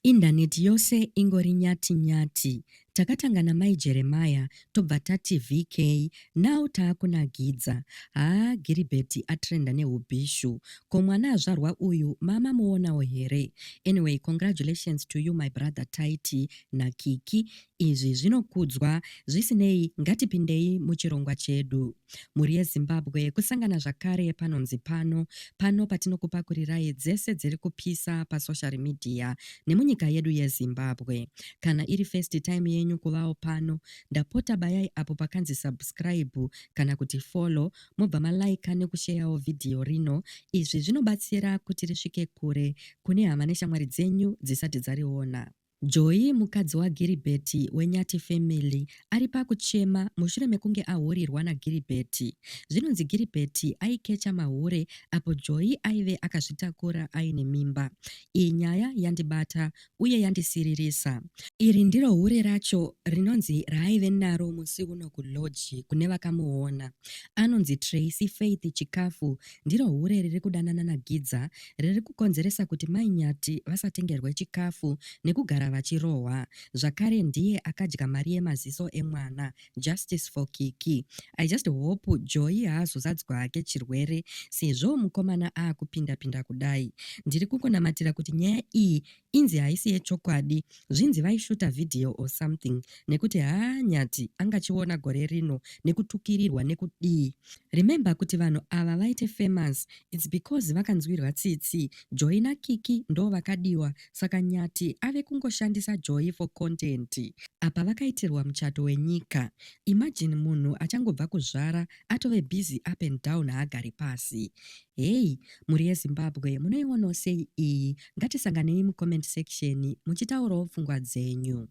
Indaneti yose ingori nyati nyati. Takatanga namai Jeremiah tobva tati VK now taakunagidza. Haa Giribheti atrenda nehubhishu. Ko mwana azvarwa uyu maamamuonawo here? Anyway congratulations to you my brother Tytie naKiki. Izvi zvinokudzwa. Zvisinei ngatipindei muchirongwa chedu. mhuri yezimbabwe kusangana zvakare panonzi pano pano patinokupakurirai dzese dziri kupisa pasocial media nemunyika yedu yezimbabwe kana iri first time yenyu kuvawo pano ndapota bayai apo pakanzi subscribe kana kuti follow mobva malaika nekusheyawo vhidhiyo rino izvi zvinobatsira kuti risvike kure kune hama neshamwari dzenyu dzisati dzariona Joy, mukadzi waGiribert weNyati Family, ari pakuchema mushure mekunge ahurirwa naGiribert. Zvinonzi Giribert aikecha mahure apo Joy aive akazvitakura aine mimba. Iyi nyaya yandibata uye yandisiririsa. Iri ndiro hure racho rinonzi raaive naro musi uno kulodge kune vakamuona. Anonzi Tracy Faith Chikafu Ndiro hure riri kudanana naGidza riri kukonzeresa kuti mai Nyati vasatengerwe chikafu nekugara vachirohwa. Zvakare ndiye akadya mari yemaziso emwana. Justice for Kiki. I just hope Joy haazozadzwa hake chirwere sezvo mukomana aakupinda pinda kudai. Ndiri kungonamatira kuti nyaya iyi Inzi haisi yechokwadi. Zvinzi vaishuta video or something nekuti haa Nyati angachiona gore rino nekutukirirwa nekudii. Remember kuti vanhu ava vaite famous it's because vakanzwirwa tsitsi. Joy naKiki ndo vakadiwa saka Nyati ave kungoshandisa Joy for content. Apa vakaitirwa muchato wenyika. Imagine munhu achangobva kuzvara atove busy up and down haagari pasi. Hey mhuri yeZimbabwe munoionawo sei iyi ngatisanganei mucomment section muchitaurawo pfungwa dzenyu.